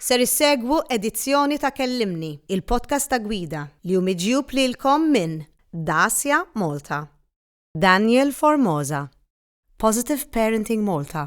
Ser issegwu edizzjoni ta' Kellimni, il-podcast ta' gwida, li hu miġjub lilkom minn Dacia Malta, Daniel Formosa, Positive Parenting Malta,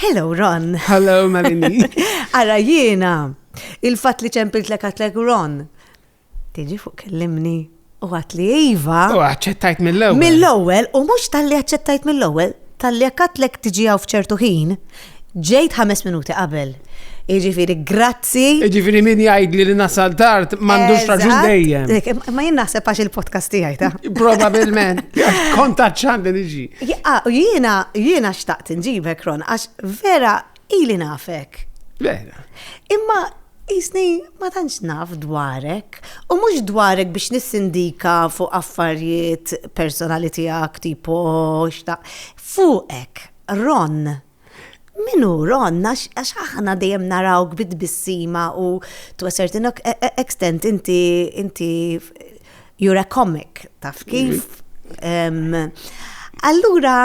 Hello, Ron. Hello, Malini. Ara jiena, il-fat li ċempilt lek għatlek Ron. Tiġi fuq kellimni u għat li Iva. U għacċettajt mill-ewel. Mill-ewel, u mux tal-li għacċettajt mill-ewel, tal-li għatlek tiġi għaw fċertu ħin, ġejt ħames minuti qabel. Iġifiri, grazzi. Iġifiri, min jgħid li nasal tard, mandux raġun dejjem. Ma jien naħseb għax il-podcast tiegħi ta' Probabilment, kontat ċandi niġi. Jiena, jiena xtaqt nġibek, Ron, għax vera ili nafek. Vera. Imma jisni ma tantx naf dwarek, u mhux dwarek biex nissindika fuq affarijiet personali tiegħek tipo xtaq. Fuqek, Ron, Min hu Ron? Għax aħna dejjem narawk bi tbissima u to a certain extent inti inti you're a comic, taf kif? Allura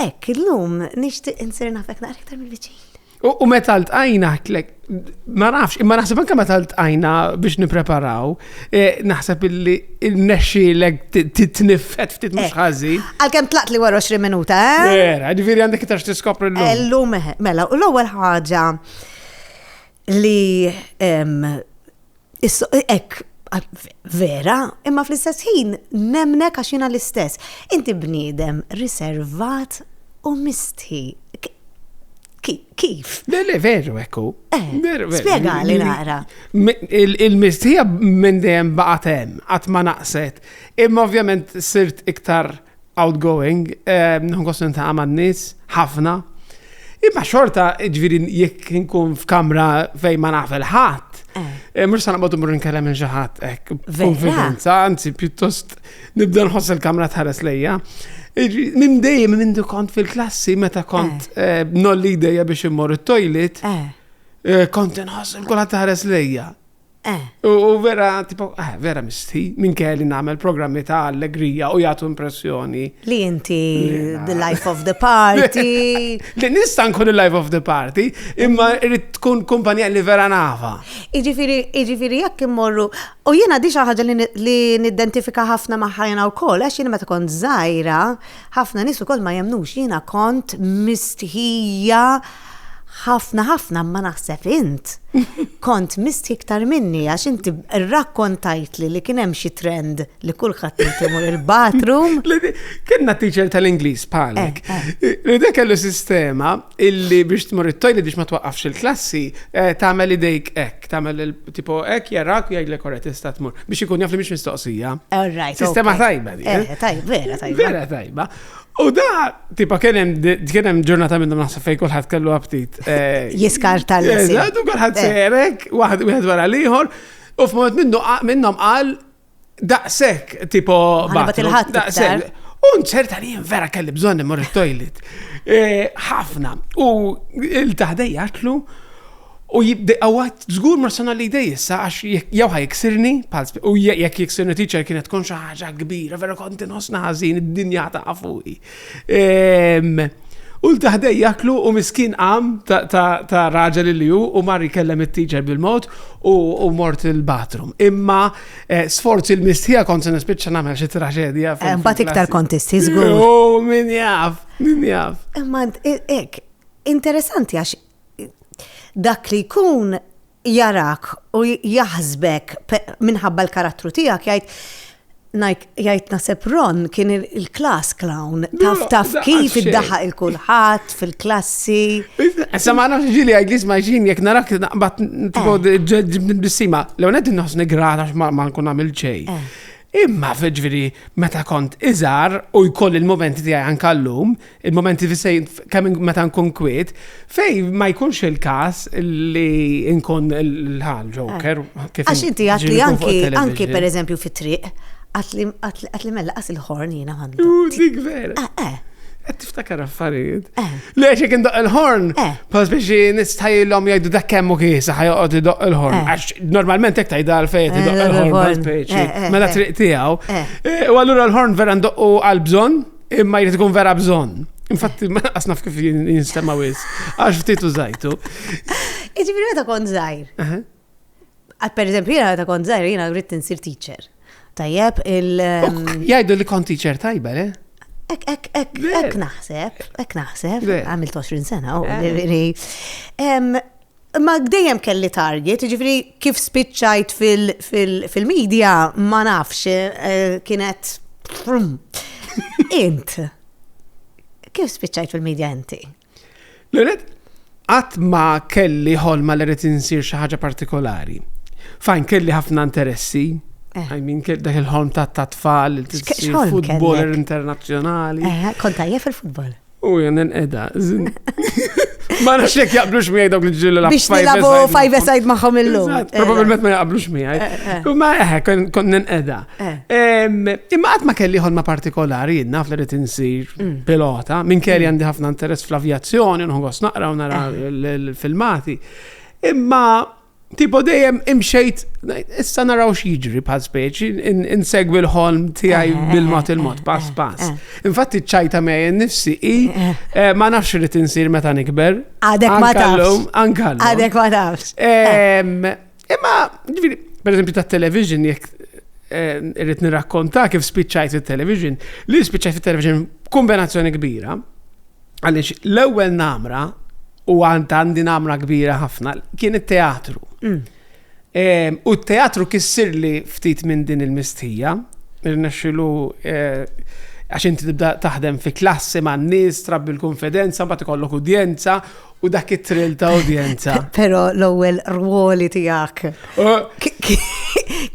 hekk illum nixtieq insir nafek naqra iktar mill-viċin. U meta ltqajna ħtlek, ma nafx, imma naħseb anke meta ltqajna biex nippreparaw, Eh, naħseb illi il-nexxilek titniffet ftit mhux eh, ħażin. Għalkemm tlaqt li wara 20 minuta, eh? Vera, ġifieri għandek iktar tiskopri l-lum. Illum, eh, mela, u l-ewwel ħaġa li ek vera, imma fl-istess ħin nemnek għax jiena l-istess. Inti bniedem riservat u misti. Kif? Le, le, veru, ekku. Eh, Spiega li naqra. Il-mistija minn dejjem baqgħet hemm, qatt ma naqset. Imma ovvjament sirt iktar outgoing, eh, nħun kostin ta' għamad nis, ħafna. Imma xorta, ġviri, jekk nkun f'kamra fej ma naf il-ħat, eh. mux sanabatu mur nkellem minn xaħat, ek, konfidenza, anzi, pjuttost Nibda nħoss il-kamra tħares lejja. Minn dejjem minn kont fil-klassi meta kont eh. Eh, nolli ideja biex immor it-toilet, eh. kont nħoss il-kula tħares lejja. U vera, tipo, eh, vera misti, minn kelli namel programmi ta' allegrija u jgħatu impressjoni. Li inti the life of the party. Li nista' nkun il-life of the party, imma irrid tkun kumpanija li vera nafa. Iġifiri, iġifiri jekk immorru U jiena di xi ħaġa li niddentifika ħafna magħha jiena wkoll għax jiena meta kont żgħira, ħafna nies ukoll ma jemnux jiena kont mistħija ħafna ħafna ma naħseb int. Kont mistħi iktar minni għax inti rrakkontajt li li kien hemm xi trend li kulħadd imur il-bathroom. Kienna teacher tal-Ingliż bħalek. Eh, eh. Li dak kellu sistema illi biex tmur it-tojli biex ma twaqqafx il-klassi eh, tagħmel idejk hekk, tagħmel Tipo hekk jarak u jgħidlek ora tista' tmur biex ikun jaf li mhix mistoqsija. All right. Sistema tajba di. Eh, tajba, vera tajba. Vera tajba. U da, tipa, kienem, kienem ġurnata minnum naħseb fej kullħat kellu aptit. Eh, Jiskar tal Eżatt, u kullħat eh. serek, waħed wieħed wara liħor, u f'moment minnu minnom qal Daqshekk tipo bathroom. Daqshekk. U nċerta li vera kelli bżonn immur it-toilet. E, ħafna. U il-taħdej għatlu U għawat zgur ma sona li dej issa għax jew ħaj jiksirni, u jek jiksirni teacher kienet tkun xaħġa kbira, vera konti nosna ħazin id-dinja ta' fuqi. U l-taħdej jaklu u miskin għam ta' raġel li ju u mar jkellem it-teacher bil-mod u mort il-bathroom. Imma eh, sforz il-mistħija kont se nispiċċa nagħmel xi traġedja. Eh, mbagħad iktar kontisti żgur. Oh, min jaf, min jaf. Imma eh, ek, interessanti għax dak li jkun jarak u jaħsbek minħabba l-karattru tiegħek jgħid jgħid naseb Ron kien il-klass clown. Taf taf kif iddaħaq il-kulħadd fil-klassi. Issa ma nafx ġili għajt li sma ġin jek narak naqbad eh. ġibni bissima. Lew ned nħossni grata ma nkun għamil ċej. Eh. Imma, ġifieri, meta kont iżgħar u jkolli l-mumenti tiegħi anke llum, il-mumenti kemm meta nkun kwiet, fejn ma jkunx il-każ li nkun l-ħal ġoker. Għax inti għad li anki, anki pereżempju fit-triq, għad li mella qas il-ħorn jiena għandu. Dik vera. Ftakar affarijiet. Eh. Le, xek indoq il-horn. Eh. Pas biex nistajillom jajdu dak kemmu kisa ħajqot idoq il-horn. Eh. Għax normalment ek tajda għal-fejt idoq il-horn. Pas biex. Mela triq tijaw. U għallura l-horn vera ndoqqu għal-bżon, imma jrid ikun vera bżon. Infatti, ma asnaf kif jinstema wis. Għax ftit użajtu. Iġibri meta kont zaħir. Per eżempju, jiena ta' kont zaħir, jiena rrit insir teacher. Tajjeb, il. Jajdu li kont teacher tajba, le? Ek, ek, ek, ek naħseb, ek naħseb, għamil 20 sena, u ġifiri. Ma dejjem kelli target, ġifiri kif spiċċajt fil-media, ma nafx, eh, kienet. Int. Kif spiċċajt fil-media inti? L-għonet, qatt ma kelli ħolma li rrit insir xi ħaġa partikolari. Fajn kelli ħafna interessi, Eh. I mean, dak il-ħolm ta' ta' tfal, il-futboler internazjonali. Eh, Konta jef il-futbol. U jen edha. Ma nafx jek jaqblux miegħi dawk li ġillu la Biex nilabu five side magħhom illum. Probabilment ma jaqblux miegħi. Eh, ma eħe, kont edha. Imma qatt ma kelli ħolma partikolari, jien naf li rrid insir mm. pilota, minn kelli mm. għandi ħafna interess fl-avjazzjoni, nħogos naqra u nara eh. l-filmati. Imma tipo dejjem imxejt, issa naraw x'jiġri bħal speċi, insegwi l-ħolm tiegħi eh, bil-mod eh, il-mod, pass pass. Infatti ċajta mej nifsi i ma nafx li tinsir meta nikber. Għadek ma tafx. Għadek ma tafx. Imma, ġviri, per eżempju, ta' television, jek eh, irrit nirrakkonta kif spiċċajt fit-television, li spiċċajt fit-television kombinazzjoni kbira, għalix l-ewwel namra u għand għandi namra kbira ħafna kien it-teatru. Mm. Ehm, u t-teatru kissir li ftit minn din il-mistija, rnexxilu eh, għax inti tibda taħdem fi klassi ma' n-nies, trabbi l-konfidenza, mbagħad ikollok udjenza U dak it-trill ta' udjenza. Pero l-ewwel rwoli tiegħek.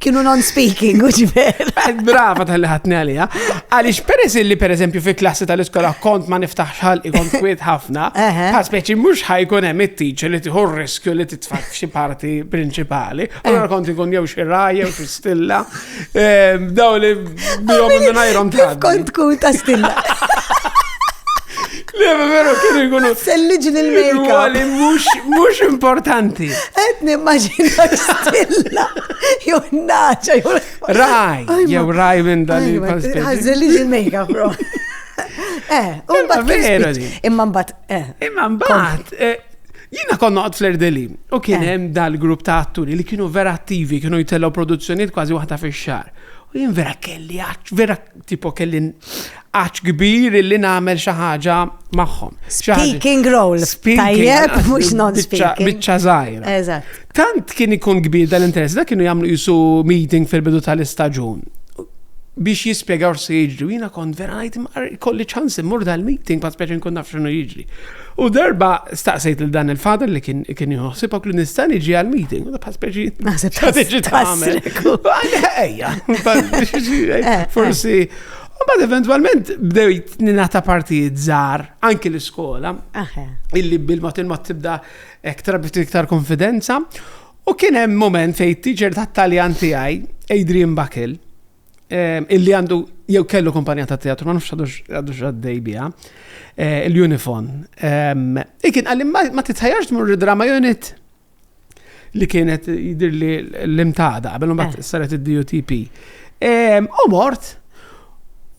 Kienu non-speaking, u ġiver. Brava tal-li ħatni għalija. Għalix peress li per eżempju fi klassi tal-iskola kont ma niftaħx ħal ikon kwiet ħafna, ta' speċi mux ħajkun hemm it-teacher li tieħu riskju li titfak f'xi parti prinċipali. Allora eh. kont ikun jew xi raj, jew xi stilla, Daw li bihom minnajrom ta' kont tkun ta' stinna. Le, veru kien ikunu. Selliġ l-mejka. Għali, mux importanti. Et nimmaġina stilla. Jew naċa, jew. Raj, jew raj minn dan il-pastel. Selliġ l-mejka, bro. Eh, un bat. Imma mbat, eh. Imma mbat. Eh, Jina konna għad fl-erdeli, u kien eh. hemm dal-grupp ta' atturi li kienu vera attivi, kienu jitellaw produzzjoniet kważi waħda fi xar. U jien vera kelli għax, vera tipo kelli għax kbir li nagħmel xi ħaġa magħhom. Speaking role. Tajjeb, mhux non-speaking. Biċċa żgħira. Eżatt. Tant kien ikun kbir dal-interess, da kienu jagħmlu jisu meeting fil-bidu tal-istaġun biex jispiegaw se jiġri. Jina kont vera għajt kolli ċans immur dal-meeting, pa' speċi nkun naf xinu jiġri. U darba staqsejt lil dan il-father li kien kien jħossibok li nista' niġi għal-meeting, u dabħas speċi. Naħseb ta' tiġi tagħmel. Ejja, eh, forsi. U bad eventualment bdejt ninata partijiet żgħar anki l-iskola. Illi bil-mod il-mod tibda ektar bit iktar konfidenza. U kien hemm moment fejn teacher tat-Taljan tiegħi, Adrian Bakil, Ehm, illi għandu jew kellu kumpanija ta' teatru, ma nafx għadux għaddej bija, eh, l-Unifon. Ehm, ikin għalli ma titħajarx mur drama unit li kienet jidir li l-imtada, għabel bat eh. saret il-DUTP. Ehm, u mort,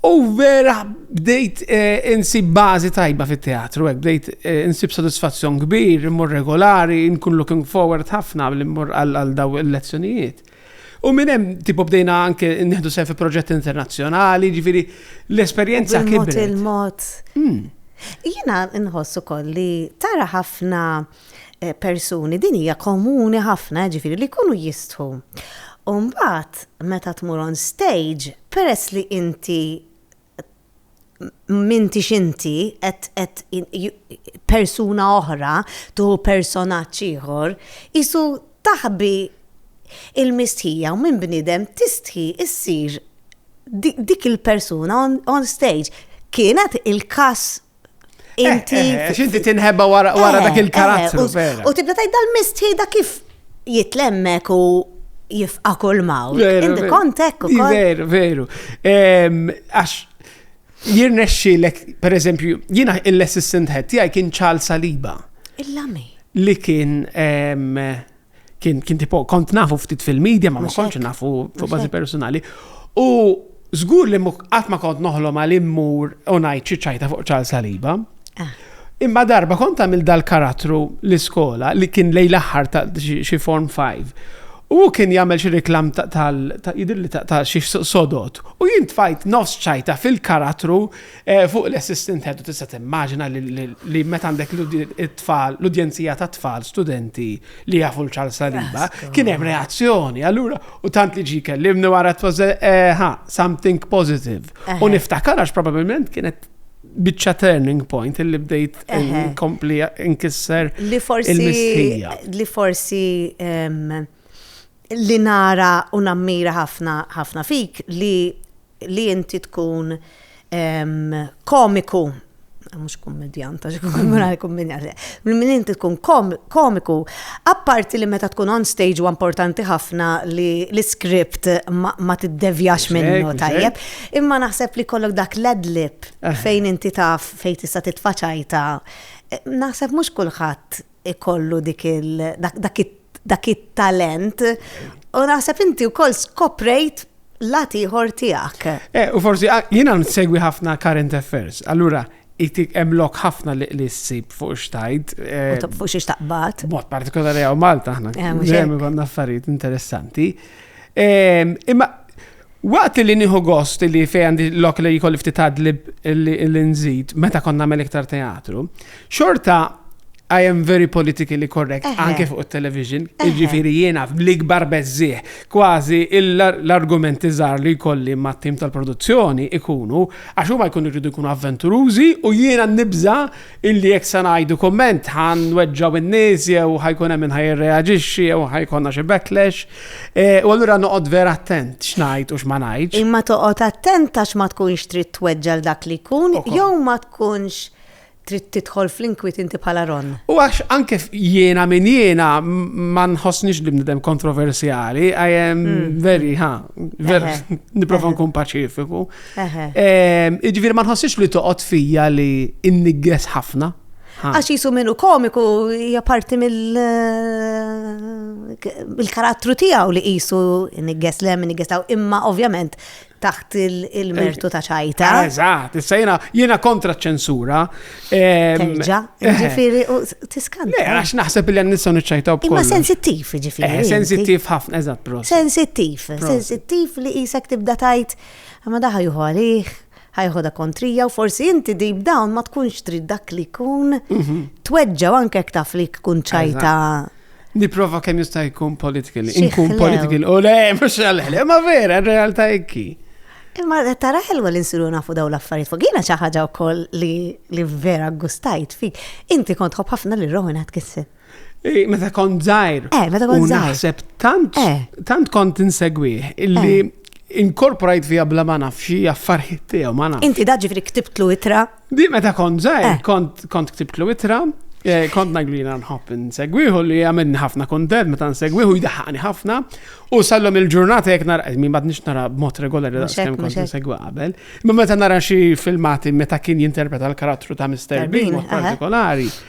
u vera bdejt eh, insib bazi tajba fit teatru bdejt insib sodisfazzjon kbir, mur regolari, nkun looking forward ħafna li mur għal daw il-lezzjonijiet. U minn hemm tipo bdejna anke nieħdu sehem fi proġett internazzjonali, ġifieri l-esperjenza kien. Il-mod. Hmm. Jiena nħoss ukoll li tara ħafna eh, persuni din hija komuni ħafna ġifieri li jkunu jistħu. Umbat, meta tmur on stage, peress li inti m'intix inti qed qed persuna oħra tuħu personaġġ ieħor, qisu taħbi il-mistħija u minn bniedem tistħi ssir dik il-persuna on stage. Kienet il-każ Eh, inti. Eh, eh, inti tinħebba wara dak il-karattru. U tibda tajt dal-mistħi da kif jitlemmek u jifqa kull mawl. Indi kontek u kol. Veru, veru. Għax jirnexxi l per eżempju, jina l-assistant head tijaj kien ċal saliba. Il-lami. Li kien Kien, kien tipo, kont nafu ftit fil-medja, ma kontx nafu fuq bażi personali. U żgur li qatt ma kont noħlom għal immur u ngħid xi ċajta fuq ċal saliba. Ah. Imma darba kont għamil dal-karattru l-iskola li kien lej l-aħħar ta' xi form 5. U kien jagħmel xi reklam tal jidir li ta' xi sodot. U jien tfajt nofs ċajta fil-karattru Eh, fuq l-assistant head tista' timmaġina li meta għandek l-tfal, l-udjenzija ta' tfal, studenti li jafu l-ċar saliba, kien hemm reazzjoni. Allura, u tant li ġi kellimni wara t eh, ha, something positive. U niftakar għax probabilment kienet bicċa turning point li bdejt inkompli inkisser li forsi li forsi li nara u nammira ħafna ħafna fik li li inti tkun komiku, mhux kummedjant, għax kummedjant, kummedjant, minn inti tkun komiku, apparti li meta tkun on stage huwa importanti ħafna li l-iskript ma tiddevjax minnu tajjeb, imma naħseb li kollok dak l-adlib fejn inti taf fejn tista' titfa' ċajta, naħseb mhux kulħadd ikollu dik il dak it-talent u naħseb inti wkoll skoprejt lat ieħor tiegħek. Eh, u forsi ah, jiena nsegwi ħafna current affairs. Allura itik emlok ħafna li li s-sib fuq xtajt. Eh, fuq xiex taqbat. Mod partikolari għaw Malta ħna. Ġemmi eh, għanna affarijiet interessanti. Ehm, imma Waqt li nieħu gost li fejn għandi lok li jkolli ftit adlib li nżid meta kont nagħmel iktar teatru, xorta I am very politically correct, anke fuq il-television, ġifiri jiena bl-ikbar bezzieħ, kważi l-argumenti żgħar li jkolli ma' tim tal-produzzjoni ikunu, għax huma jkunu jridu jkunu avventurużi u jiena nibża Illi jekk se ngħidu kumment ħa nweġġgħu in-nies jew ħa jkun hemm min ħa jirreaġixxi jew ħa jkollna xi backlash. U allura noqgħod vera attent x'ngħid u x'ma ngħidx. Imma toqgħod attent għax ma tkunx trid tweġġa' l dak li jkun jew ma tkunx trid tidħol fl-inkwiet inti bħala Ron. U għax anke jiena min jiena ma nħossnix li bniedem kontroversjali, I am very, ħa, nipprova nkun paċifiku. Ehm, Iġviri ma nħossix li toqgħod fija li innigges ħafna. Għax jisu minnu komiku hija parti mill eh, karattru tiegħu li jisu innigges lem, innigges taw, imma ovvjament taħt il-mertu ta' ċajta. Eh, eżatt, issa jena, jena kontra ċensura. Ehm, Terġa, eh. ġifiri, tiskanta. Le, għax naħseb li għannissa nċajta u Imma sensittiv, ġifiri. Sensittiv ħafna, eżatt, bro. Sensittiv, sensittiv li jisek tibda tajt. Ta Imma dak ħa jieħu għalih, ħa jeħodha kontrija u forsi inti deep down ma tkunx trid dak li jkun mhm. tweġġa' anke jekk taf li tkun ċajta. Niprofa kemm jista' jkun political. Inkun political. U le, mhux għalħel. Ma vera, realtà ekki. Imma tara ħelwa li nsiru nafu daw l-affarijiet fuq. Jiena xi ħaġa wkoll li vera gustajt fik. Inti kont ħobb ħafna li Rowan Atkinson. Eh, meta kont zaħir. Eh, meta kont zaħir. Naħseb tant, eh. tant kont insegwih illi eh. inkorporajt fija bla ma nafxi affarħit tiegħu ma nafx. Inti daġi fri ktibtlu itra? Di meta kont zaħir, kont kont ktibtlu itra. Kont naglina nħobb nsegwiħu li għamilni ħafna kontent meta nsegwiħu jdaħħani ħafna u sallom il-ġurnata jek nara, mi bad nix nara mot regolari da' skem kont nsegwi qabel. Ma meta nara xi filmati meta kien jinterpreta l-karattru ta' Mr. Bean partikolari.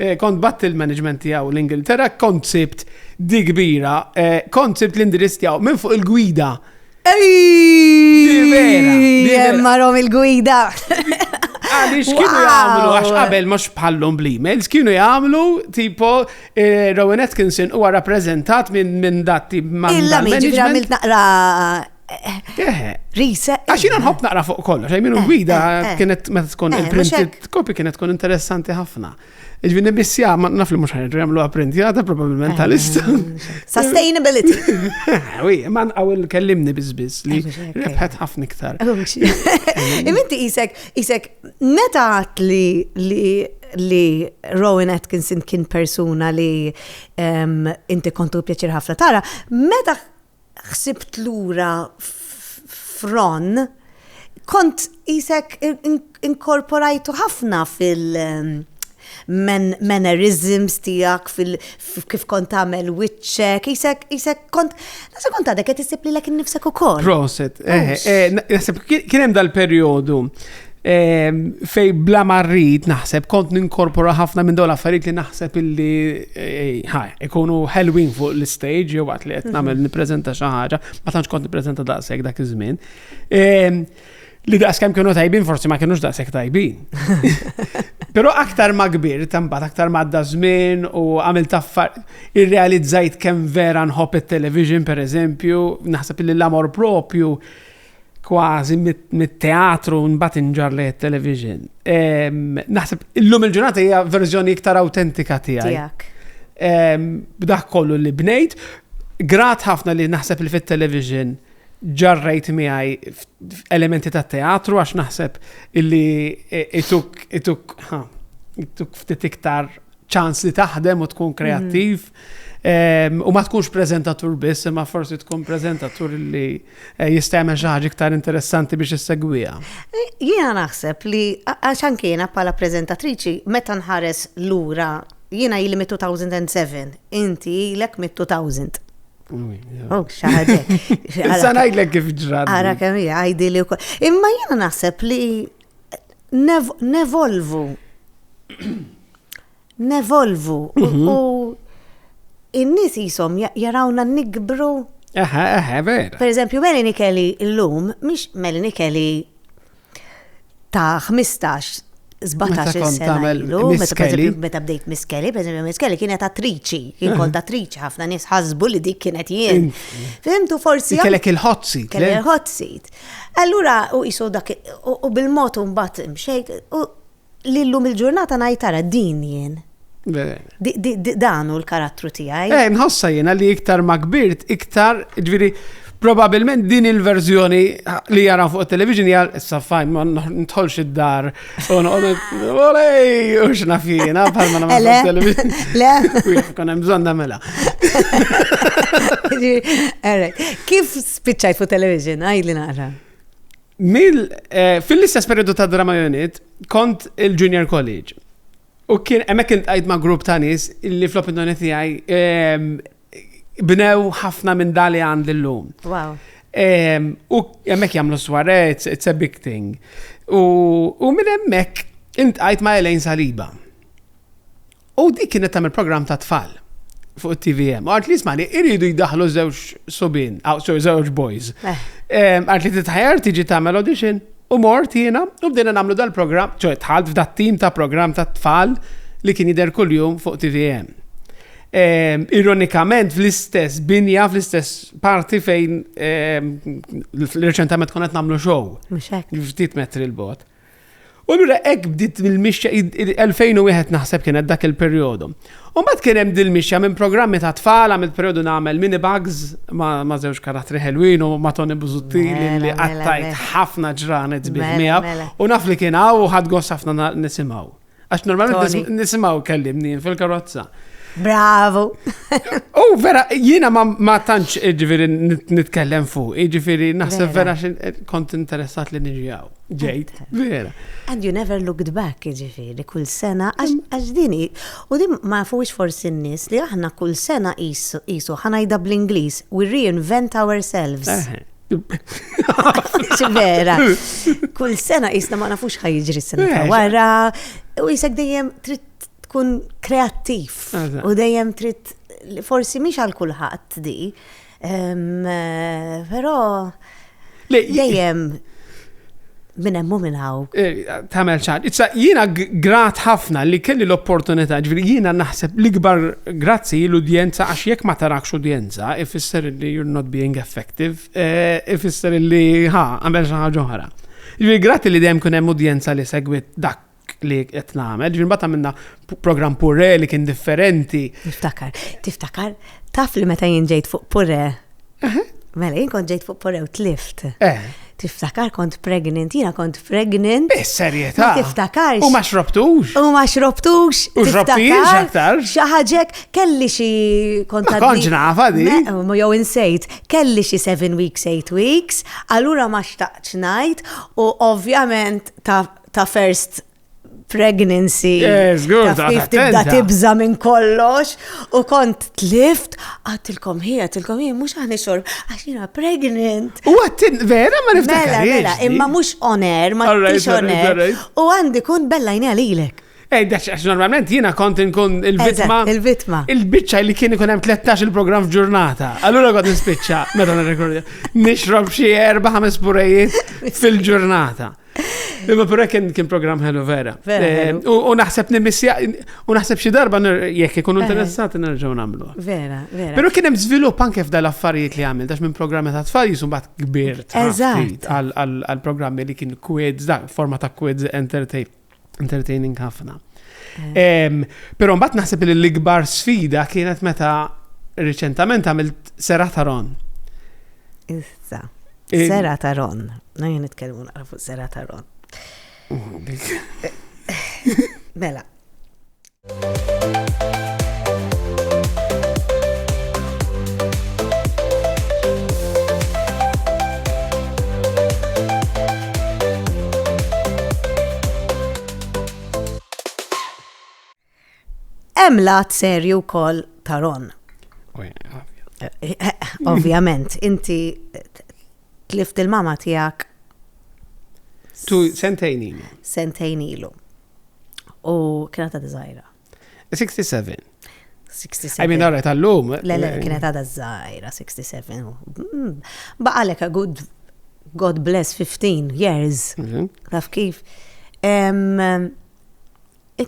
Eh, kont batt il-management tiegħu l-Ingilterra, kont sibt di kbira, eh, kont sibt l-indirizz tiegħu minn fuq il-gwida. Marrom il-gwida. Għalix kienu jgħamlu, għax qabel mux bħallum bl-emails, kienu jgħamlu tipo eh, Rowan Atkinson huwa rappresentat minn datti ma' il-management. Illa miġi għamilt naqra Risa. Għax jina nħobb naqra fuq kollox, għaj minu eh, gwida eh, eh. kienet meta tkun il-printed copy kienet tkun interessanti ħafna. Iġvi nibissja, ma naf li mux ħanġu jamlu għaprintjata probabilment tal-ista. Sustainability. Wi, man għaw il-kellimni bizbiz li rebħet ħafna iktar. Iminti isek, isek, meta għat li li li Rowan Atkinson kien persuna li ehm, inti kontu pjaċir ħafna tara, meta ħsibt lura f'Ron, kont qisek inkorporajtu ħafna fil- mannerisms tiegħek kif kont tagħmel wiċċek, isek isek kont nasa kont għadek qed issib lilek innifsek ukoll. Proset, eh, eh, naħseb kien hemm dal-perjodu Ehm, fej bla marrit naħseb kont ninkorpora ħafna minn dawn affarijiet li naħseb illi eh, ħaj, ikunu ħelwin fuq l-stage jew waqt li qed nagħmel mhm. nippreżenta xi ħaġa, ma tantx kont nippreżenta daqshekk dak iż-żmien. Ehm, li daqs kemm kienu tajbin forsi ma kienux daqshekk tajbin. Però aktar ma kbir tambat aktar ma għadda żmien u għamil taffar irrealizzajt kemm vera nħobb it-television pereżempju, naħseb li l-amor propju kważi mit-teatru mbagħad inġar lejn it-television. Naħseb illum il-ġurnata hija verżjoni iktar autentika tiegħi. B'dak kollu li bnejt, grat ħafna li naħseb li fit-television ġarrejt miegħi elementi ta' teatru għax naħseb illi e, ituk ituk ituk ftit iktar ċans li taħdem u tkun kreattiv. U ma tkunx preżentatur biss, imma forsi tkun preżentatur li eh, jista' jagħmel xi ħaġa iktar interessanti biex issegwiha. Eh, jiena naħseb li għax anke jiena bħala preżentatriċi meta nħares lura jiena ili mit 2007, inti ilek mit 2000. Oh, xaħġek. Issa ngħidlek kif ġrad. Ara kemm hija għajdi li wkoll. Imma jiena naħseb li nevolvu nevolvu mhm. u in-nies jisom jarawna nikbru. Aha, aha, vera. Per eżempju, Melanie Kelly l-lum, mhix Melanie Kelly ta' 15 17 sena. Meta bdejt Miss Kelly, per eżempju, Miss Kelly kienet attriċi, kien kont attriċi, ħafna nies ħasbu li dik kienet jien. Fimtu forsi. Kellek il-hot seat. Kellek il-hot seat. Allura, u jisu dak, u bil-mod un bat mxejk, li llum il-ġurnata ngħid ara din jien. Dan hu l-karattru tiegħi. Eh, nħossa jiena li iktar ma kbirt, iktar, ġviri, probabilment din il-verżjoni li jara fuq television jgħal issa fajn ma ntħolx id-dar u olej u xna fina bħal ma namel fuq television. Le. Kon hemm bżonn nagħmilha. Kif spiċċajt fuq television għajli naqra? Mil, eh, fil-istess periodu ta' drama unit, kont il-junior college. U kien, emmek kien tqajt ma' grupp ta' nis li fl-opinjoni tijaj ehm, bnew ħafna minn dali għand l-lum. Wow. Ehm, u emmek jamlu sware, it's a big thing. U minn emmek, intqajt ma' Elaine Saliba. U dik kienet tagħmel programm ta' tfal fuq it-TVM. Għart li smani, iridu jidaħlu żewġ subin, żewġ boys. Eh. Għart li titħajar tiġi tagħmel audition u mort jiena u bdejna nagħmlu dal-programm, ċoj tħalt f'dat tim ta' programm ta' tfal li kien jidher kuljum fuq TVM. Ehm, ironikament fl-istess binja, fl-istess parti fejn ehm, reċentament konet namlu show. Ftit metri l-bot. U allura hekk bdiet il-mixja 2001 naħseb kienet dak il-perjodu. U mbagħad kien hemm dil-mixja minn programmi ta' tfal għamilt perjodu nagħmel mini bugs ma' żewġ karattri ħelwin u ma' Tony Buzuttili mela, li mela, qattajt mela. ħafna ġranet bih miegħu u naf li kien hawn u ħadd gost ħafna nisimgħu. Għax normalment nisimaw kellimni fil-karozza. Bravo! U vera, jiena ma tantx ġifiri nitkellem fuq, ġifiri naħseb vera eh, kont interessat li nġijaw. Ġejt, vera. And you never looked back, ġifiri, kull sena, għax dini, u din ma fuqx forsi n-nis li aħna kull sena jisu ħanajda bl-Inglis, we reinvent ourselves. vera. Kull sena jisna ma nafux ħajġri s-sena ta' eh, wara, u jisek dejjem trid tkun kreattiv u dejjem trid forsi miex għal kulħadd di, eh, però dejjem minn hemm u minn hawn. Eh, Tamel ċar. Issa jiena grat ħafna li kelli l-opportunità, ġifieri jiena naħseb l-ikbar grazzi l-udjenza għax jekk ma tarakx udjenza ifisser li you're not being effective, eh, ifisser li ha, għamel xi ħaġa oħra. Ġifieri grazzi li dejjem kun hemm udjenza li segwit dak li qed nagħmel. Ġifieri mbagħad għamilna programm purre li kien differenti. Tiftakar, tiftakar, taf li meta jien ġejt fuq purre. Mela jien kont ġejt fuq purre u tlift. Eh. Tiftakar kont pregnant, jiena kont pregnant. Bis serjetà. Tiftakar. U ma xrobtux. U ma xrobtux. U xrobtix aktar. Xaħġek kelli xi kont. Kont ġnafa di. Jew insejt, kelli xi 7 weeks, 8 weeks, allura ma xtaqx ngħid u ovvjament ta' ta' first pregnancy. Yes, good. Taf tibda tibza minn kollox u kont tlift għatilkom hi, għatilkom hi, mux għani xorb, għaxina pregnant. U għattin, vera ma niftakar. Mela, mela, imma mux oner, ma tix oner. U għandi kun bella jni għalilek. Ej, daċ, għax normalment jina kont nkun il-vitma. Il-vitma. Il-bicċa li kien ikun hemm 13 il-programm f'ġurnata. Allura kont nispiċċa, meta nirrekordja, nixrob xi erba' ħames purejiet fil-ġurnata. Imma pura kien kien program ħelu vera. Eh, u naħseb nimissja, u naħseb xi darba jekk ikunu eh. interessati nerġgħu nagħmlu. Vera, vera. Però kien hemm żvilupp anke f'dal affarijiet li għamil dax minn programmi ta' tfal jisu bat kbir għal programmi li kien quiz, da, forma ta' quiz entertainment. entertaining ħafna. Eh. Pero mbagħad naħseb li l-ikbar sfida kienet meta riċentament għamilt sera ta' Ron. Issa. Eh, sera ta' Ron. Najja nitkellmu naqra fuq sera ta' Ron. Mela, Hemm lat serju wkoll ta' Ron. Ovvjament, inti tlift il-mama tiegħek. Tu sentejn ilu. Sentejn ilu. u kienet għadha żgħira. 67. 67. I mean, għarret għallum. Le, le, eh, kienet għada zaħira, 67. Mm. Baqalek a good, God bless, 15 years. Mhm. Taf kif.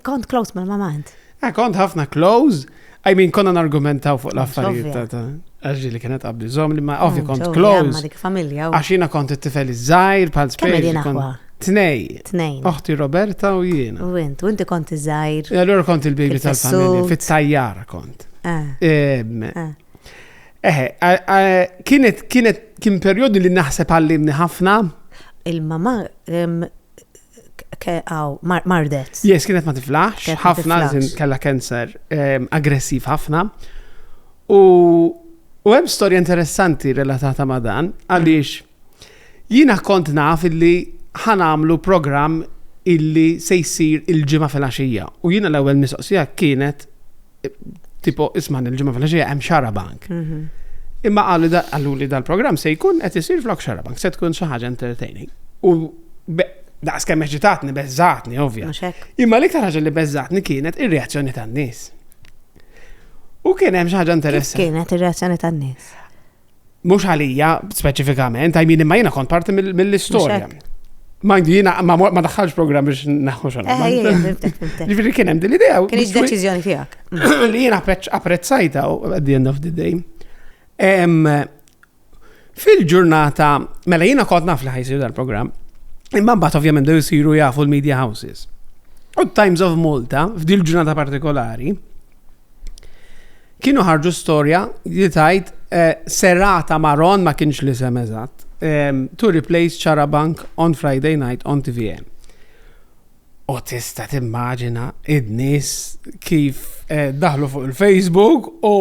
Kont close ma' mamant. Eh, kont ħafna close. I mean, konna nargumentaw fuq l-affarijiet ta' ta' għaxġi li kienet għabdi zom li ma' mm, ovvi kont close. Għaxina kont it-tifel iż-żajr, pal space. Tnej. Tnej. Oħti Roberta u jiena. U int, u inti kont iż-żajr. E allora kont il-baby tal-familja, fit-tajjar kont. Eh. Eħe, kienet, kienet, kien periodi li naħseb għallimni ħafna. Il-mama, Aw, mardet. Yes, kienet ma tiflaħx, Kienet ma ħafna, tiflaħx. zin kella cancer, em, aggressiv ħafna. U u hemm storja interessanti relatata ma' dan, għaliex jiena kont naf illi ħanamlu programm illi se jsir il-ġimgħa fil-għaxija. U jiena l-ewwel mistoqsija kienet tipo isma' il-ġimgħa fil-ħaxija hemm xarabank. Mhm. Imma għalli għallu li dal-programm se jkun qed isir flok xarabank, se tkun xi ħaġa entertaining. U daqs kemm eċitatni, beżżatni, ovvja. Imma l-iktar ħaġa li beżżatni kienet ir-reazzjoni tan-nies. U kien hemm xi ħaġa interessanti. Kienet ir-reazzjoni tan-nies. Mhux għalija speċifikament, għajmin imma jiena kont parti mill-istorja. Ma jiena ma daħħalx programm biex naħħu xogħol. Eh, eh, Ġifieri kien hemm din l-idea. Kien deċiżjoni tiegħek. Li jiena apprezzajta at the end of the day. Fil-ġurnata, mela jiena kont naf li ħajsir dal-programm, imma mbagħad ovvjament dew isiru jafu l-media houses. U Times of Malta, f'dil ġurnata partikolari, Kienu ħarġu storja li tajt eh, serata maron ma kienx li sem eżatt. Eh, to replace Charabank on Friday night on TVN. U tista timmaġina id-nis kif eh, daħlu fuq il-Facebook u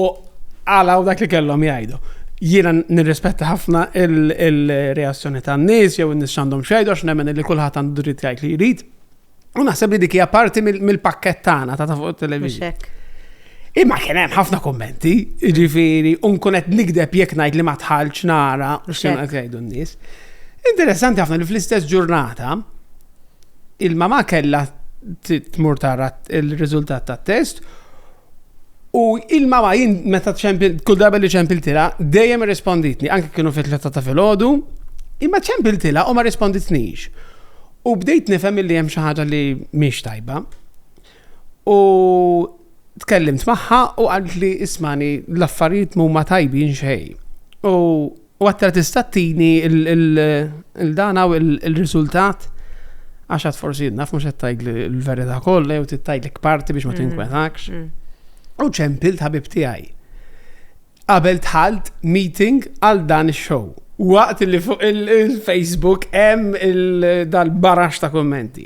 għalaw dak li kellhom jgħidu. Jiena nirrispetta ħafna il-reazzjoni tan-nies jew in-nies x'għandhom xejdu għax nemmen li kulħadd għandu dritt jgħid li jrid. U naħseb li dik hija parti mill-pakket tagħna ta' fuq it-television. Imma kien hemm ħafna kommenti, ġifieri, u nkun qed nigdeb jekk ngħid li ma tħallx nara x'kienu qed jgħidu n-nies. Interessanti ħafna li fl-istess ġurnata il-mama kellha tmur tara il-riżultat tat-test U il-mama jien meta ċempil, kull darba li ċempiltila, dejjem irrisponditni, anke kienu fit tletta ta' filgħodu, imma ċempiltila u ma risponditnix. U bdejt nifhem li hemm xi ħaġa li mhix tajba. U tkellimt magħha u qalt li ismani l-affarijiet mhuma tajbin xejn. U U għattra tista' tini il-dana u il-riżultat għax għad forsi naf mhux qed tajt l-verità kollha jew tittajlek parti biex ma mm-hmm. tinkwetakx. Mm-hmm. U ċempil ħabib tiegħi. Qabel tħalt meeting għal dan ix-show. Waqt li fuq il-Facebook hemm dal-barax ta' kommenti.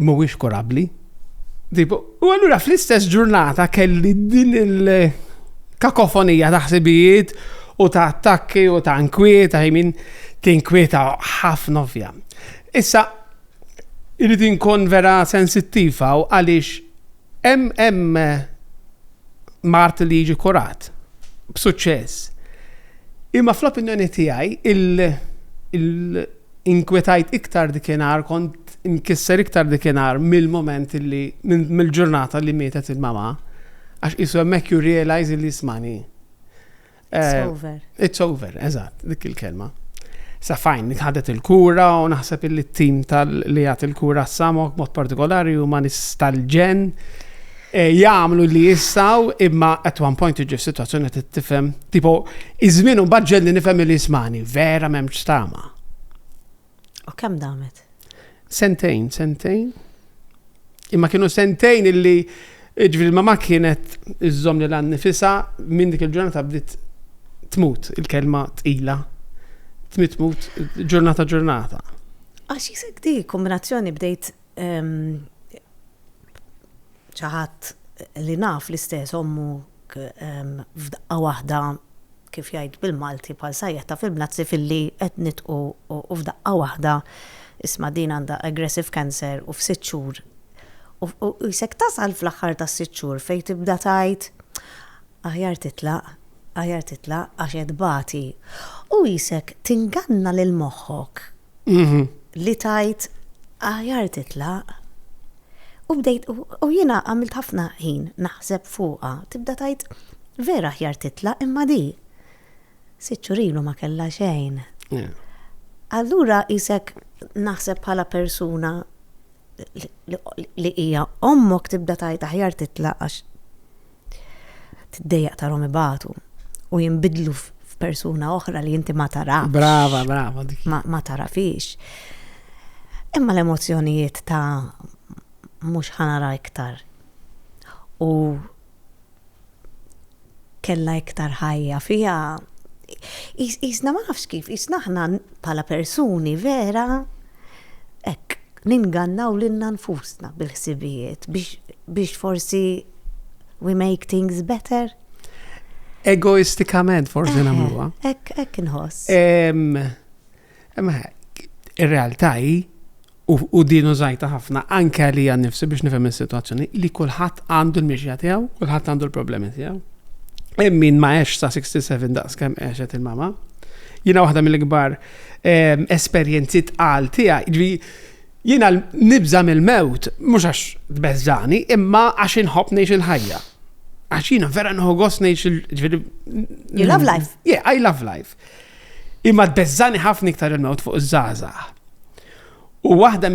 mhuwiex kurabbli. U allura fl-istess ġurnata kelli din il-kakofonija ta' ħsibijiet u ta' attakki u ta' nkwieta, min tinkwieta ħafna ovvja. Issa, irrid inkun vera sensittiva u għaliex Hemm mard li jiġi kurat b'suċċess. Imma fl-opinjoni tiegħi inkwetajt iktar dikinhar, kont imkisser iktar dikinhar mill-mument li mill-ġurnata li mietet il-mama, għax qisu hemmhekk ju realize li jismani. It's eh, over. It's over, eżatt, dik il-kelma. Sa fajn, nitħadet il-kura u naħseb illi t-tim tal-li għat il-kura s-samok mod partikolari u ma nistalġen eh, jgħamlu li jissaw imma at one point iġu situazzjoni t-tifem tipo iż-żmien u li nifhem li jismani vera memx stama. U kemm damet? Sentejn, sentejn. Imma kienu sentejn illi ġvil ma kienet iżżom li l-għan nifisa minn dik il-ġurnata bdiet tmut il-kelma tqila. Tmut tmut ġurnata ġurnata. Għax jisek di kombinazzjoni bdejt ehm, ċaħat li naf l-istess ommu f'daqqa waħda, kif jgħid bil-Malti bħal sajjeħ ta' fil-mnazzi filli qed nitqu u f'daqqa waħda, isma' din għandha aggressive cancer u f'sitt xhur, u qisek tasal fl-aħħar tas-sitt xhur fejn tibda tgħid aħjar titlaq, aħjar titlaq għax qed tbati. U qisek tinganna lil moħħok li tajt aħjar titlaq. U bdejt, u jiena għamilt ħafna ħin naħseb fuqha, tibda tajt vera aħjar titlaq imma di. Siċċurilu ma kellha xejn. Allura isek naħseb bħala persuna li hija ommok tibda tajt aħjar titlaq għax Tiddejjaq tarhom ibatu u jinbidlu f'persuna oħra li inti ma tarafx. Brava, brava. Ma, ma tarafix. Imma l-emozjonijiet ta' mhux ħanara iktar. U kella iktar ħajja fija. Isna ma nafx kif, isna ħna pala persuni vera, ek, ningannaw lilna nfusna bil-ħsibijiet biex biex forsi we make things better? Egoistikament forsi nagħmluha. Hekk hekk inħoss. Ir-realtà hi u din użajta ħafna anke għalija nifsi biex nifhem is-sitwazzjoni li kulħadd għandu l-mixja tiegħu, kulħadd għandu l-problemi tiegħu. Hemm min ma għex sa 67 daqs kemm għexet il-mama. Jiena waħda mill-ikbar esperjenzi tqal tiegħi. Ġri, jiena nibża mill-mewt, mhux għax tbeżżani, imma għax inħobb ngħix il-ħajja. Għax jiena vera nħu gost ngħix il-ġviri. You love life. Yeah, I love life. Imma tbeżżani ħafna iktar il-mewt fuq iż-żaza. U waħda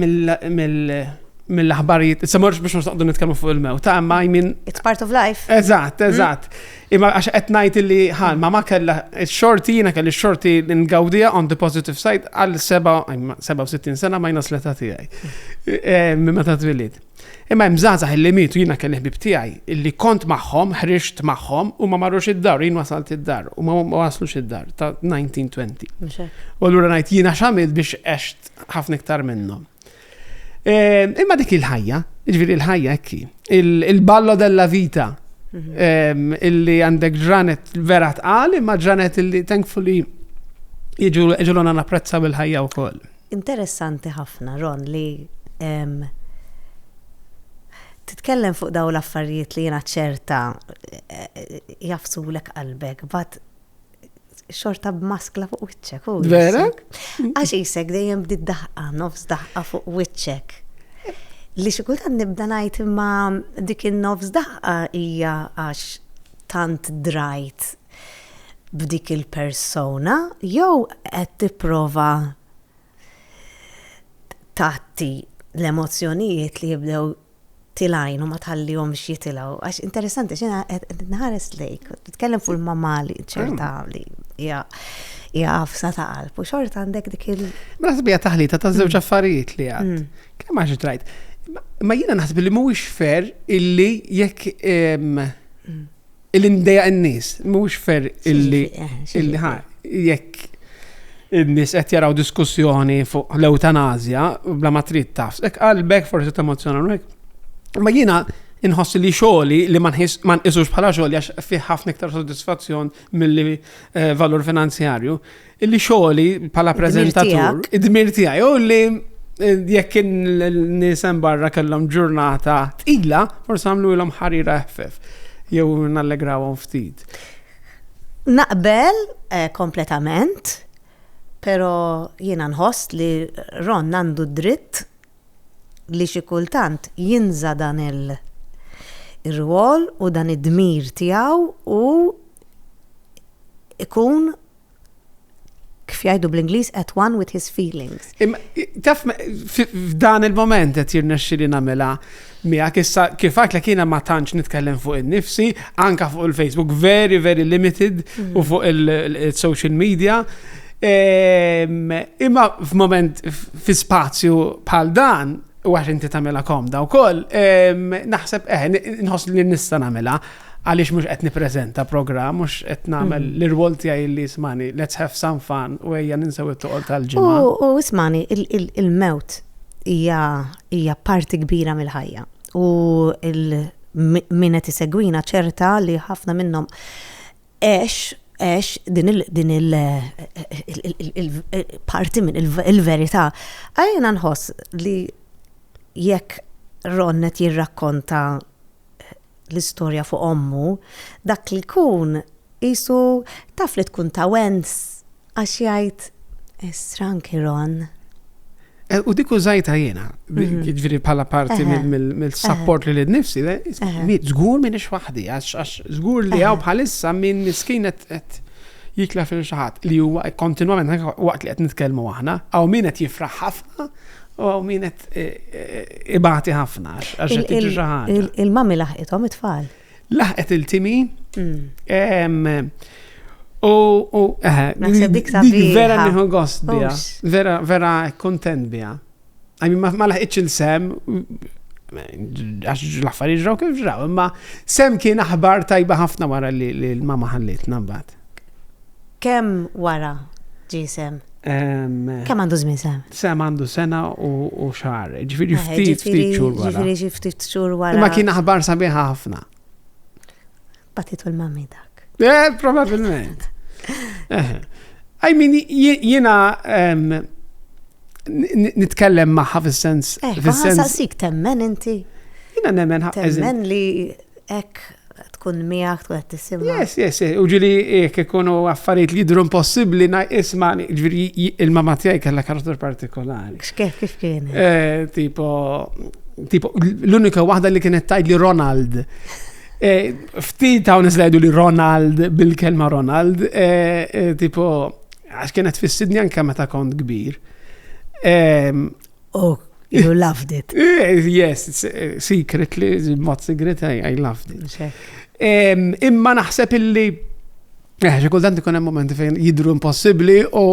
mill-aħbarijiet, se morx biex noqgħdu nitkellmu fuq il-mew, ta' ma jmin. It's part of life. Eżatt, mm. eżatt. Imma għax qed ngħid li ħalma ma kellha x-xorti jiena kelli x-xorti ngawdija on the positive side għal 67 sena ma jnas l-età tiegħi. Mm. Eh, minn meta twilid. Imma hemm żgħażagħ illi mietu jiena kelli ħbieb tiegħi illi kont magħhom, ħriġt magħhom u ma marrux id-dar, jien wasalt id-dar u ma waslux id-dar ta' 1920. U allura ngħid jiena x'għamilt biex għext ħafna iktar minnhom. Ehm, imma dik il-ħajja, ġifieri il-ħajja ekki, il-ballo della vita mhm. ehm, illi għandek ġranet vera tqal imma ġranet illi thankfully jiġu ġulona napprezzaw il-ħajja wkoll. Interessanti ħafna, Ron, li titkellem fuq dawn l-affarijiet li jiena ċerta jagħfsulek qalbek, but xorta b'maskla fuq wiċċek. Vera? Għax isek dejjem bdiet daħqa, nofs daħqa fuq wiċċek. Li xi kultant nibda ngħid imma dik in-nofs daħqa hija għax tant drajt b'dik il-persona jew qed tipprova tgħatti l-emozzjonijiet li jibdew tilajn u ma tħallihomx jitilgħu. Għax interessanti x'ina qed nħares lejk, titkellem fuq il-mamali ċerta mm. li hija hija għafsa ta' qalb u xorta għandek dik il. Ma naħseb hija taħlita ta' żewġ mm. affarijiet li għad. Mm. Kemm għax trajt. Ma jiena naħseb li mhuwiex fer illi jekk Illi ndeja n-nies, mhux fer illi eh, illi ħa jekk in-nies qed jaraw diskussjoni fuq l-eutanazja bla ma trid taf. Ek qalbek forsi temozzjona hekk. Ma jiena inħoss li xogħli li ma nqisux bħala xogħol għax fih ħafna iktar sodisfazzjon milli eh, valur finanzjarju. Illi xogħli bħala preżentatur, id-dmir tiegħi, u li eh, jekk nisem barra kellhom ġurnata tqila, forsi għamlu ilhom ħarira ħfef, jew nallegrawhom ftit. Naqbel eh, kompletament, pero jiena nħoss li Ron għandu dritt li xi kultant jinża dan il- ir-rwol u dan id-dmir tiegħu u ikun kif jgħidu bl-Ingliż at one with his feelings. Taf f'dan il-moment qed jirnexxi li nagħmilha miegħek issa kif għatlek jiena ma tantx nitkellem fuq in-nifsi, anka fuq il-Facebook very very limited mm. u fuq il-social media. Ehm, imma f'moment fi spazju bħal dan u għax inti tamela komda u koll, ehm, naħseb, eh, nħos li nista namela, għaliex mhux qed nippreżenta programm, mhux qed nagħmel mm. l-irwol tiegħi li ismani, let's have some fun u ejja ninsew it-toqol tal-ġimgħa. U ismani, il-mewt hija parti kbira mill-ħajja. U min qed isegwina ċerta li ħafna minnhom għex għex din il-parti minn il-verità. Għajna nħoss li jekk Ronnet jirrakkonta l-istorja fuq ommu, dak li jkun qisu taf li tkun ta' wens għax jgħid stranki Ron. Eh, u dik użajta jiena, mhm. ġviri bħala parti mill-support li l-nifsi, zgur minn ix waħdi, għax zgur li għaw bħalissa minn miskin għet jikla fil xaħat li huwa kontinuament waqt li qed nitkellmu aħna, għaw min qed jifraħ U għaw min qed e, e, ibati ħafna għax qed tiġi xi ħaġa. Il-mami laħqithom it-tfal. Laħqet il-timi. Mm. U eh, naħseb dik vera nieħu gost biha. Vera vera kontent biha. Għajmi ma laħqitx il-sem għax l-affarijiet ġraw kif ġraw, imma sem kien aħbar tajba ħafna wara li l-mama ħallitna mbagħad. Kemm wara ġie Sam? Kemm għandu żmien Sam? Sam għandu sena u xahar, ġifieri ftit ftit xhur wara. Ġifieri xi ftit xhur wara. Imma kien aħbar sabiħa ħafna. Batitu l-mammi dak. Eh, probabilment. I mean, jiena nitkellem maħħa fis-sens. Eh, fis-sens. Saqsik temmen inti. Jiena nemmen ħafna. Temmen li ek tkun miegħek tkun qed tisimgħu. Yes, yes, u ġili jekk ikunu affarijiet li jidhru impossibbli isma' ġifieri il-mamma tiegħi kellha karattur partikolari. X'kif kif kien? Eh, tipo tipo l-unika waħda li kienet tajt li Ronald. Eh, ftit hawn iżlejdu li Ronald bil-kelma Ronald, eh, tipo għax kienet fis-Sidni anke meta kont kbir. Ehm, Oh, you loved it. Eh, yes, eh, secret li, mod secret, I, I loved it. Imma naħseb illi, eh, xi kultant ikun hemm momenti fejn jidru impossibbli u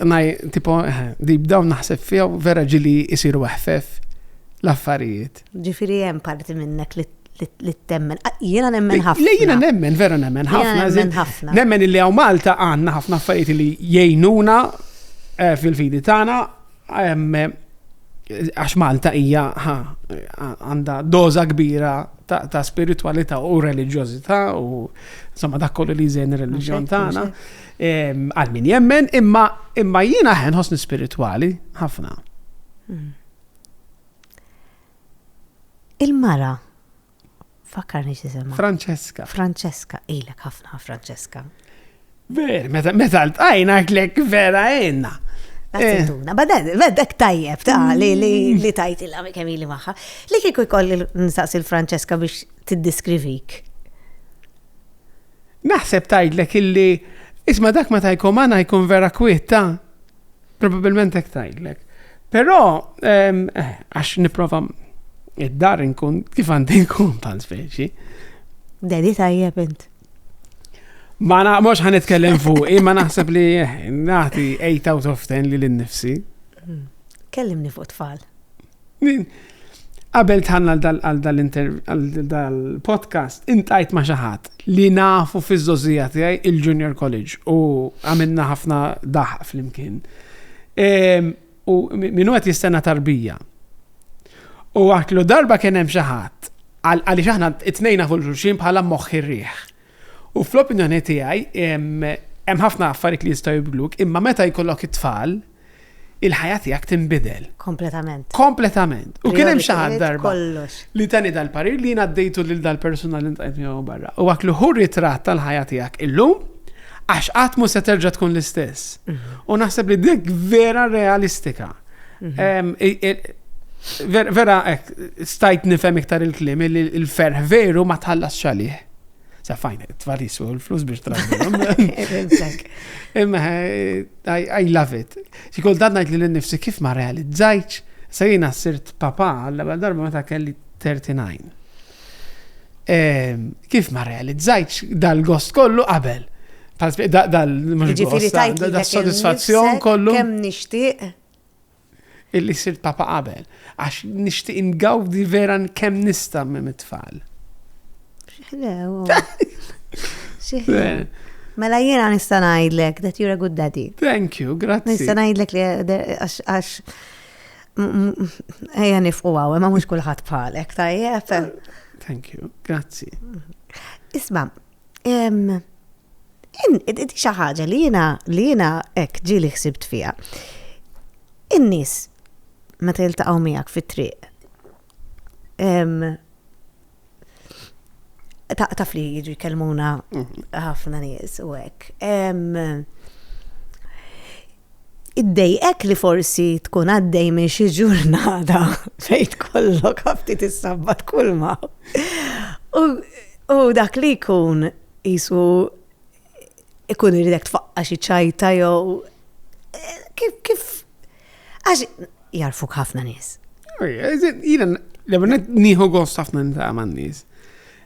naj, tipo, eh, deep down naħseb fija vera ġili jisiru eħfef l-affarijiet. Ġifiri hemm parti minnek li li temmen. Ah, jiena nemmen ħafna. Jiena nemmen, vera nemmen ħafna. Nemmen ħafna. Nemmen illi għaw Malta għanna ħafna affarijiet li jgħinuna eh, fil-fidi tagħna eh, għax Malta hija għandha doza kbira ta' spiritualità u reliġjożità u insomma dak kollu li jżen ir-reliġjon tagħna għal min jemmen imma imma jiena ħen ħosni spiritwali ħafna. Hmm. Il-mara, fakkarni xisema. Francesca. Francesca, ilek ħafna Francesca. Ver, meta meta l-tajna klek vera jenna. Għattuna, badan, badak tajjeb ta' li li li tajt il kemm ili maħħa. Li kieku jkolli nsaqsi l-Francesca biex tiddiskrivik. Naħseb tajtlek illi, isma dak ma tajkom għana jkun vera kwiet ta' Probabilment hekk tgħidlek. Però ehm, eh, għax nipprova id-dar nkun kif għandi nkun bħal speċi. Dedi tajjeb int. Ma na, mux ħan itkellem fuq, imma naħseb li eh, naħti 8 out of 10 li l-nifsi. Hmm. Kellimni fuq tfal. Qabel tħanna għal dal-podcast, intajt ma xaħat li nafu fiż-żożija tiegħi il-junior college u għamilna ħafna daħq fl-imkien. Ehm, u minnu għet jistenna tarbija. U għatlu darba kien hemm xaħat, għalli xaħna it-tnejna fuq xulxin bħala moħħi rriħ. U fl-opinjoni tiegħi hemm ħafna affarijiet li jistgħu jibdluk, imma meta jkollok it-tfal, il-ħajja tiegħek tinbidel. Kompletament. Kompletament. U kien hemm xi ħadd darba li tani dal-parir li jien għaddejtu lil dal-persuna li ntqajt miegħu barra. U għak li hu ritratt tal-ħajja tiegħek illum għax qatt mhu se terġa' tkun l-istess. Mhm. U naħseb li dik vera realistika. Mhm. Vera, stajt nifhem iktar il-klim, il-ferħ veru ma tħallas xalih. Safajn, tfarris u l-flus biex trażilhom. Imma I love it. Xi kultant ngħid li l-nifsi kif ma realizzajċ, sa jiena sirt papa għalla ewwel darba meta kelli 39. Kif ma realizzajċ dal-gost kollu qabel. Dal-soddisfazzjon kollu. Kemm nixtieq illi sirt papa qabel, għax nixtieq ingawdi vera kemm nista' minn it-tfal. Mela jiena nista' ngħidlek that you're a good daddy. Thank you, grazzi. Nista' ngħidlek li għax ejja nifqu għaw, ma mhux kulħadd bħalek, tajjeb. Thank you, grazzi. Isma, Di xi ħaġa li jiena li jiena hekk ġieli ħsibt fiha. In-nies meta jiltaqgħu miegħek fit-triq taf li jiġu jkellmuna mhm. ħafna nies u hekk. Iddejqek li forsi tkun għaddej minn xi ġurnata fejn tkollok ftit issabbat kulma u dak li jkun qisu jkun iridek tfaqqa' xi ċajta jew kif għax jagħrfuk ħafna nies. Jiena l-ewwel nett nieħu gost ħafna niltaqa' man-nies.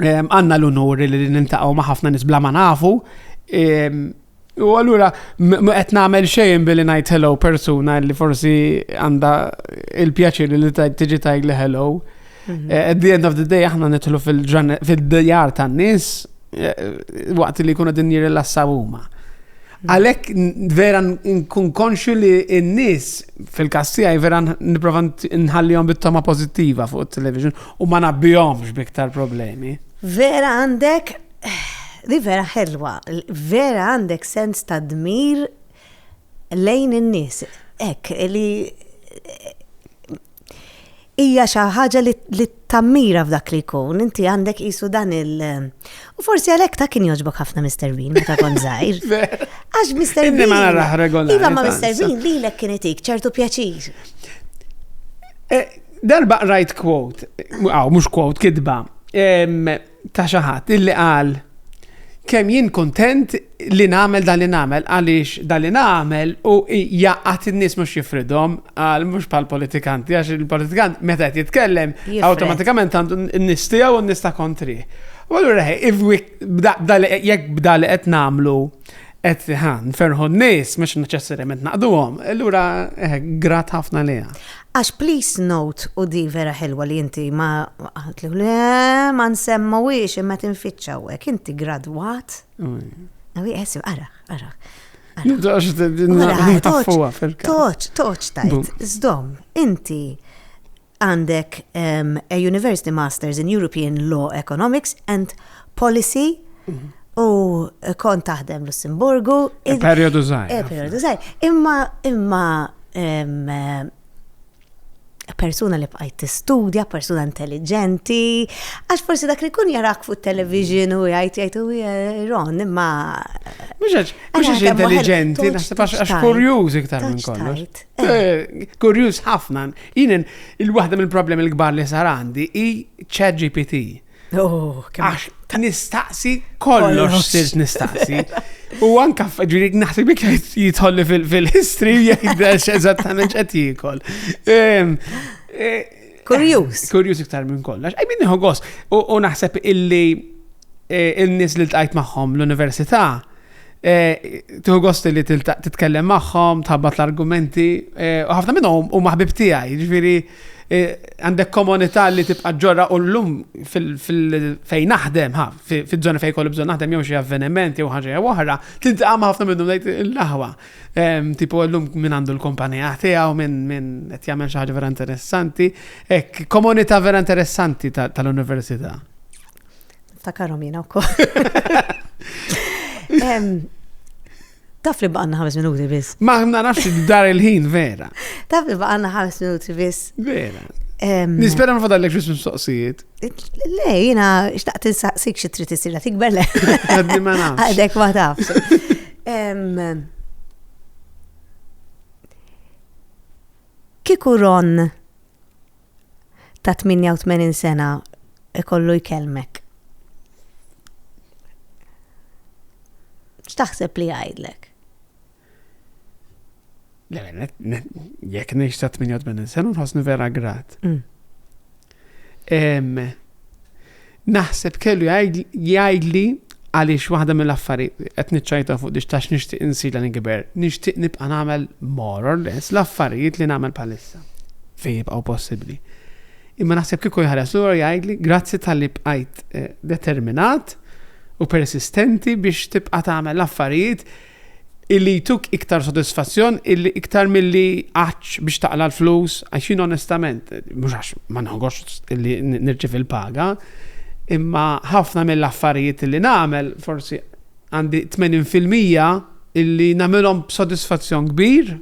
għanna l-unur li nintaqgħu ma' ħafna nies bla ma nafu. U allura qed nagħmel xejn billi ngħid hello persuna li forsi għandha il-pjaċir li tiġi tajg li hello. Mhm. Eh, at the end of the day aħna nidħlu fil-djar tan-nies eh, waqt li jkunu din jirrilassaw huma. Għalhekk vera nkun konxju li n-nies fil-każ tiegħi vera nipprova nħallihom bit-toma pożittiva fuq it-television u ma nabbihomx biktar problemi. Vera għandek li vera ħelwa, vera għandek sens ta' dmir lejn in-nies. Ek, li hija xi ħaġa li tammira f'dak li jkun, inti għandek qisu dan il- U forsi għalhekk ta' kien jogħġbok ħafna Mr. Bean meta kon żgħir. Għax Mr. Bean. ma naraħ regolari. Iva ma Mr. Bean lilek kien itik ċertu pjaċir. Eh, darba rajt quote, għaw, mux quote, kidba. ta' xi ħadd illi qal kemm jien kuntent li nagħmel dan li nagħmel għaliex dan li nagħmel u jaqgħad in-nies mhux jifridhom għal mhux bħal politikanti għax il-politikant meta qed jitkellem awtomatikament għandu n-nies tiegħu u n-nies ta' kontri. U allura jekk bda li qed nagħmlu qed ħan ferħu n-nies mhux neċessarjament naqduhom, allura eh, grat ħafna liha. Għax please note u di vera ħelwa li inti ma għatlu le ma nsemmawiex imma tinfittxa hawnhekk inti gradwat. Għawi għesib, ara, ara. Għax nitaffuwa fil-kap. Toċ, toċ tajt, zdom, inti għandek a University Masters in European Law Economics and policy u kont taħdem Lussemburgu. E periodu zaħir. E periodu zaħir. Imma, imma, persuna li bqajt tistudja, persuna intelligenti, għax forsi dak li kun jarak fuq television u jgħid jgħid u eh, ron, imma. Mhux mhux intelligenti, naħseb għax kurjuż iktar minn kollox. Eh. Eh, kurjuż ħafna. Jien il-waħda mill-problemi l-kbar li sar għandi hi ChatGPT. Oh, Għax nistaqsi kollox sirt nistaqsi. U anka ġiri naħseb bik jitħolli fil-history jgħidax eżattament ċet jikol. Ehm, e, kurjus. Kurjus iktar minn kollox. Għaj minni ħogos. U naħseb illi e, il-nis li l-tajt maħħom l-università Eh, Tuħu gost li titkellem magħhom, tħabbat l-argumenti, eh, u ħafna minnhom u maħbib tiegħi, ġifieri eh, għandek komunità li tibqa' ġorra u llum fejn naħdem, ha, fiż-żona fejn kollu bżonn naħdem jew xi avveniment jew ħaġa jew oħra, tintaqa' ma' ħafna minnhom ngħid il-laħwa. Ehm, tipo llum minn għandu l-kumpanija tiegħu minn min qed jagħmel xi ħaġa vera interessanti, hekk komunità vera interessanti tal-università. Ftakarhom jiena wkoll. Taf li baqanna ħames minuti biss. Ma nafx dar il-ħin vera. Taf li baqanna ħames minuti biss. Vera. Nispera ma fadallek xis mistoqsijiet. Le, jina, xtaqt insaqsik xie trid isir tikber le. Għaddi ma nafx. Għadek ma tafx. Kiku Ron ta' 88 sena jkollu jkellmek. X'taħseb li jgħidlek? Jekk ngħix ta' 88 sena nħossni vera grat. Mm. Naħseb kellu jgħidli għaliex waħda mill-affarijiet qed niċċajta fuq dix tax nixtieq insir li nikber, nixtieq nibqa' nagħmel more or less l-affarijiet li nagħmel bħalissa fejn jibqgħu possibbli. Imma naħseb kieku jħares lura jgħidli grazzi tal-li bqajt eh, determinat u persistenti biex tibqa' tagħmel l-affarijiet illi jtuk iktar sodisfazzjon illi iktar milli għax biex taqla l-flus, għaxin onestament, mhux għax ma nħogox illi nirċiv il-paga, imma ħafna mill-affarijiet illi nagħmel forsi għandi 80% illi nagħmilhom b'sodisfazzjon kbir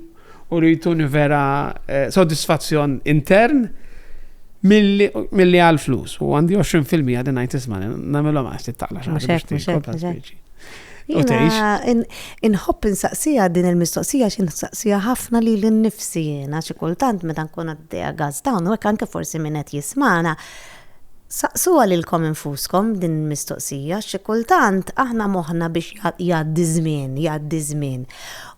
u li jtuni vera eh, soddisfazzjon intern milli għal flus. U għandi 20% din għajt isma, namilom għasti taqla xaħġa. U teħx. Inħobb insaqsija din il-mistoqsija xin insaqsija ħafna li l-nifsi jena xi kultant meta nkun għaddeja gaz dawn u anke forsi minn qed jismana. Saqsu għalilkom infuskom din il-mistoqsija xi kultant aħna moħna biex jgħaddi żmien, jgħaddi żmien.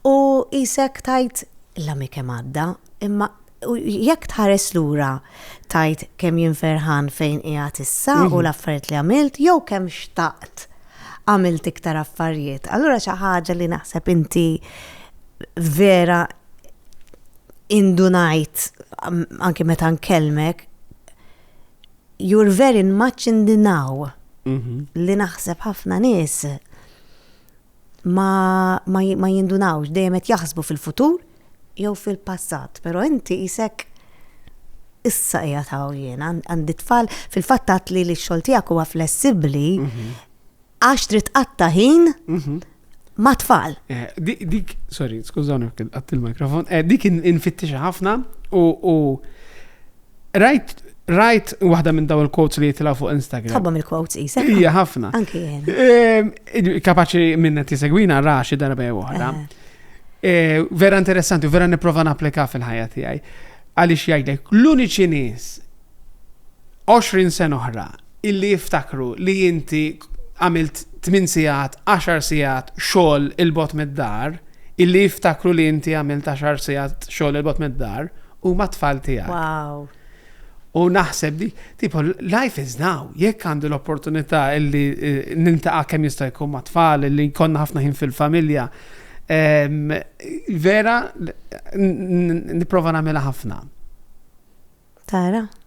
U qisek tgħid, L-għami kemm għadda, imma jekk tħares lura tgħid kemm jien ferħan fejn qiegħed issa u l-affarijiet li għamilt jew kemm xtaqt għamilt iktar affarijiet. Allura xi ħaġa li naħseb inti vera indunajt anki meta nkellmek you're very much in the now mhm. li naħseb ħafna nies ma, ma, ma jindunawx, dejjem qed jaħsbu fil-futur jew fil-passat, però inti isek issa hija taw jien, għandi tfal fil-fatt għat li l-xogħol tiegħek huwa flessibbli mhm. għax trid qatta ħin mhm. ma' tfal. Eh, dik, sorry, skużawni għatt il-mikrofon, eh, dik infittixa ħafna u Rajt, rajt waħda minn daw il-quotes li jitla fuq Instagram. Tħobbhom il-quotes isa. Ija, ħafna. Anki jena. Ehm, kapaċi minna tisegwina ra xi darba jew oħra. Eh. Eh, vera interessanti, vera niprofa napplika fil-ħajja tiegħi. Għaliex jgħidlek, l-uniċi nies 20 sen oħra illi jiftakru li inti għamilt 8 sigħat, 10 sigħat xogħol il-bot mid-dar, illi jiftakru li inti għamilt 10 sigħat xogħol il-bot mid-dar, huma t-tfal tiegħek. Wow. U naħseb di, tipo, life is now, jekk għandi l-opportunità illi eh, nintaqa kemm jista' jkun ma' tfal, illi jkollna ħafna ħin fil-familja, ehm, vera, n- n- niprofa nagħmilha ħafna. Tara,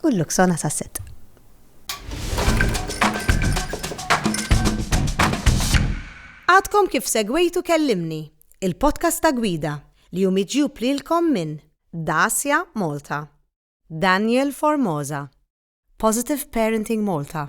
u l-Luxona Sasset. Għadkom kif segwejtu Kellimni, il-podcast ta' Gwida li hu miġjub lilkom minn Dacia Malta, Daniel Formosa, Positive Parenting Malta,